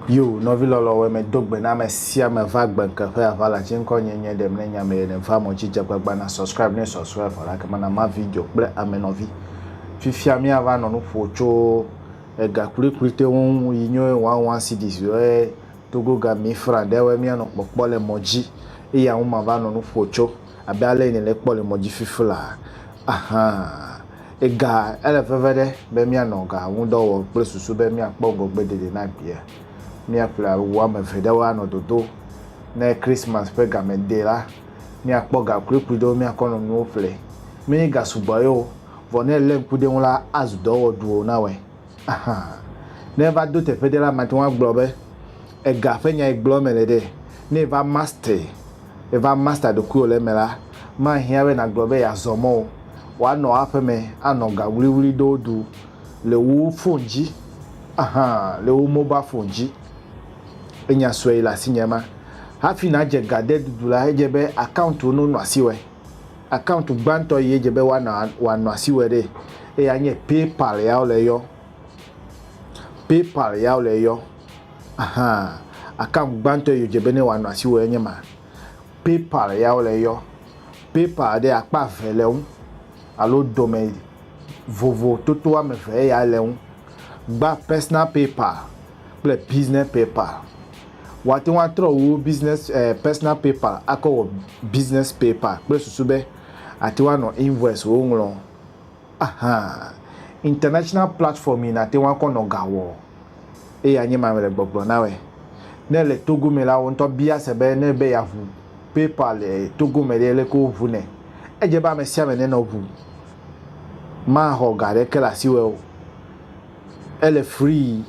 Yo, nɔvi lɔlɔ̃ wɛ me do gbe na ame sia ame va gbe ŋke ƒe aʋa la tsi ŋkɔ nye nye ɖe mne nya me yene va mɔ dzi dze gbagba na subscribe ne sɔsɔe vɔ la kema na ma video kple ame nɔvi fifia mia va nɔ nu ƒo tso ega kplikpli te ŋu yi nyo wawa cds wɛ Togo ga mi fra ɖe wɛ mia nɔ kpɔkpɔ le mɔ ji eye awu ma va nɔ nu ƒo co abe ale yi ne le kpɔ le mɔ ji fifi la ahan. Ega ele veve ɖe be mia nɔ ga ŋu dɔ wɔ kple susu be mia kpɔ ŋgɔgbe dede na gbea. Mia ƒle awu ame eve ɖe wo anɔ dodo ne Christmas ƒe game de la, mia kpɔ ga kuikui ɖewo mia kɔ nɔ nuwo ƒle. Menye ga sugbɔ ye o, vɔ ne ele ŋku ɖe ŋu la azu dɔ wɔ ɖuo na wɛ. Ahan. Ne eva do teƒe ɖe la, mate ŋu agblɔ be ega ƒe nyae gblɔm mele ɖe. Ne eva master, eva master ɖokuiwò le eme la, mahiã be nàgblɔ be yeazɔ mɔ o. Wòanɔ aƒe me anɔ ga ŋuliŋuli ɖewo ɖu le wò fon dzi, ahan, le wò mobal fon dzi. Enya sue le asinye ema. Hafi nàdze ga de ɖuɖu la, edze be akawuntiwo nonɔ asiwɔe. Akauntu gbãtɔ yi edze be woanɔ wòanɔ asi wɔe ɖe eya nye PayPal ya wole yɔ. PayPal ya wole yɔ. Ahan. Akauntu gbãtɔ yi wodze be ne wòanɔ asi wɔe nye ma. PayPal ya wole yɔ. PayPal ɖe akpa eve le ŋu alo dome vovo toto woame eve eya le ŋu. Gba Personal PayPal. kple business paper. Woate ŋu atrɔ wo business eh, personal paper akɔ wɔ business paper kple susu be ate ŋu anɔ invoice wo ŋlɔ. Aha, international platform yi nate ŋu akɔ nɔ ga wɔ eye anye mame le gbɔgblɔ na wɛ. Ne le Togo me la, wo ŋutɔ bia se be ne be yeaʋu PayPal le Togo me ɖe leke woʋu nɛ. Edze be ame sia ame nenɔ ʋu maxɔ ga ɖeke le asiwɛ o. Ele free,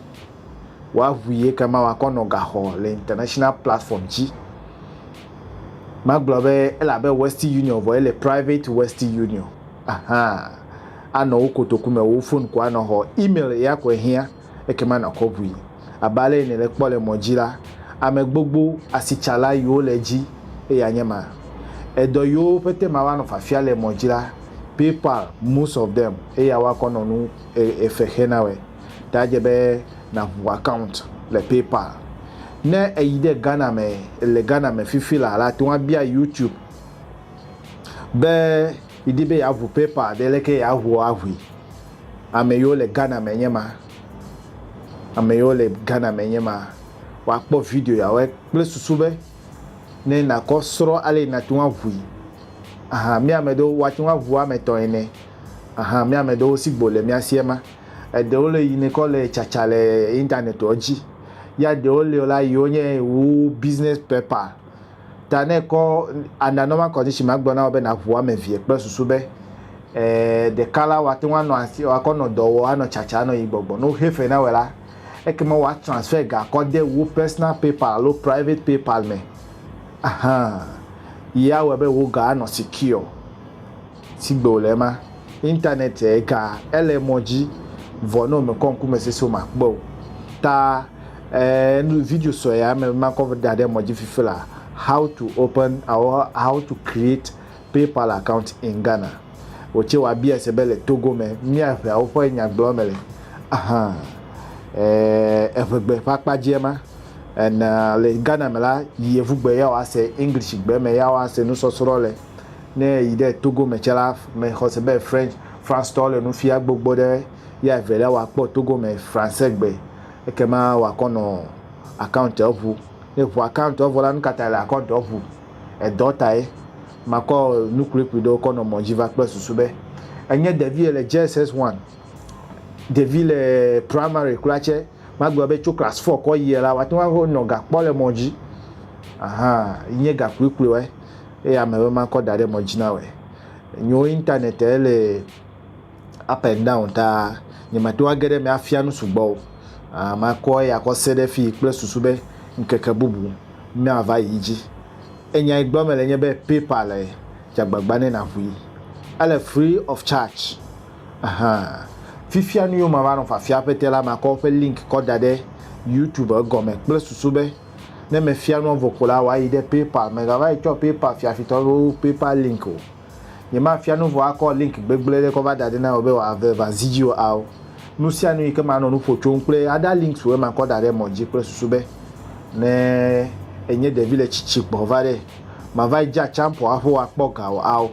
woaŋui ekema wòakɔ nɔ gaxɔ le international platform dzi. Magblɔ be ele abe Western Union vɔ ele private Western Union. Ahaa, anɔ wo kotoku me, wò fon ko anɔ xɔ, email ya koe hiã ekema nàkɔ ŋui. Abe ale yi nèle kpɔ le mɔ dzi la, ame gbogbo asitsala yiwo le edzi eye anye ma. Edɔ yiwo pete ma woanɔ fiafia le mɔ dzi la, PayPal most of them eya woakɔ nɔ nu efe xe na wɛ ta edze be naŋu account le PayPal. Ne eyi ɖe Ghana me le Ghana me fifi la la teŋu abia YouTube be yidi be yeaŋu PayPal ɖe leke yeaŋu aŋui. Ame yiwo le Ghana me nye ma. Ame yiwo le Ghana me nye ma. Woakpɔ video yawo kple susu be. ne nàkɔ srɔ̃ ale yi nàte ŋu aʋui. Aha, mía ame ɖewo, woate ŋu aʋu ame etɔ̃ ene. Aha, mía ame ɖewo si gbo le mía si ema. Eɖewo le yi nekɔ le tsatsa le Internet-ɔ dzi. Ya ɖewo le la yiwo nye wu business paper. Ta ne ekɔ under normal condition magblɔ na wò be nàʋu ame evie kple susu be e, ɖeka la woate ŋu anɔ asi, woakɔ nɔ dɔ wɔ, anɔ tsatsa, anɔ yi gbɔgbɔ. Ne woxe fe na wòe la, Ekema woa transfer ga kɔ de wò personal PayPal alo private PayPal me. Ahan. Yi awɔe be wò ga anɔ secure. Sigbe wòle ema, internet ga ele emɔ dzi vɔ ne wòmekɔ ŋkumesese o makpɔe o. Ta e nu video sɔe amɛ be makɔ da ɖe emɔ dzi fifi la, how to open alo how to create PayPal account in Ghana. Wotse wa bia se be le Togo me mia ʋeawo ƒe nyagblɔ me le. Aha. Eh, eʋegbe ƒe akpa dzie ma. En le Ghana me la, yevugbe ya wa se English gbe me ya wa se nusɔsrɔ le. Ne yi ɖe Togo me tse la, me xɔ se be French, France tɔwo le nufia gbogbo ɖe ya evelia wa kpɔ Togo me Français gbe. Ekema wa kɔ nɔ account ɔbu. Ne ʋu account ɔbu la, nukata le account ɔbu? edɔ tae makɔ nu kpuikpui ɖewo kɔ nɔ mɔ dzi va kple susu be enye ɖevi le JSS one, ɖevi le primary kura tsɛ, magblɔ be tso class four kɔ yia la, woate ŋu axɔ nɔ ga kpɔ le mɔ dzi. Ahan, yi nye ga kpuikpuiwoe eye ame be makɔ da ɖe mɔ dzi na wɔe. Nyo internet le. up and down ta nyemate ŋu age ɖe eme afia nu sugbɔ o. Makɔ eya kɔ se ɖe fii kple susu be ŋkeke bubu mava yi dzi. Enya yi gblɔm mele nye be PayPal e, dze agbagba ne nàŋui. Ele free of charge. Ɛhɛ̃. Fifia nu yiwo mava nɔ fiafia aƒetɛ la, makɔ woƒe link kɔ da ɖe YouTube egɔme kple susu be ne mefia nua vɔ ko la, wòayi ɖe PayPal me. Mègava yi tsɔ PayPal fiafitɔ alo PayPal link o. Nyemafia nu vɔ akɔ link gbegblẽ ɖe kɔ va da ɖi na wò be wòave va zi dzi o ao. Nu sia nu yi ke manɔ nu ƒo tsom kple other links woe makɔ da ɖe emɔ dzi kple susu be ne ènye ɖevi le tsitsi gbɔ va ɖe, màvayi dze atsaƒu aƒo akpɔ ga o ao.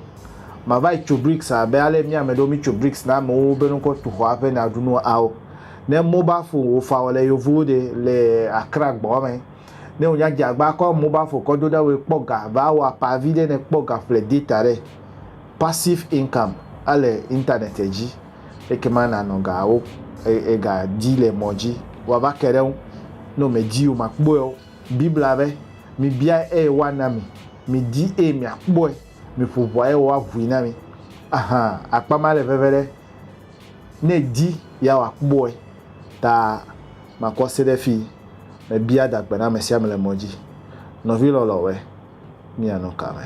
Màvayi tso bricks abe ale mía ame ɖewo mítso bricks na amewo be ne kɔ tu xɔ aƒe ne aɖu nu ao. Ne mobile phone wò fa wɔ le yevuwo ɖe le Accra gbɔ me. Ne wò nya dzeagba kɔ mobile phone kɔ do ɖa wòe kpɔ ga va wɔ apa vi ɖe ne kpɔ ga ƒle data ɖe passive income ele internet dzi ekema na nɔ ga wo ega di le mɔ dzi wɔ va ke ɖe ŋu no me di o ma kpɔe o bibla be mi bia eye wa na mi mi di eye mia kpɔe mi ƒo ʋua eye wa vui na mi aha akpa ma le veve ɖe ne di ya wa kpɔe ta. Makɔ se ɖe fii mebia adagbe na ame sia ame le mɔ dzi. Nɔvi lɔlɔ̃wɔe, míanɔ ka me?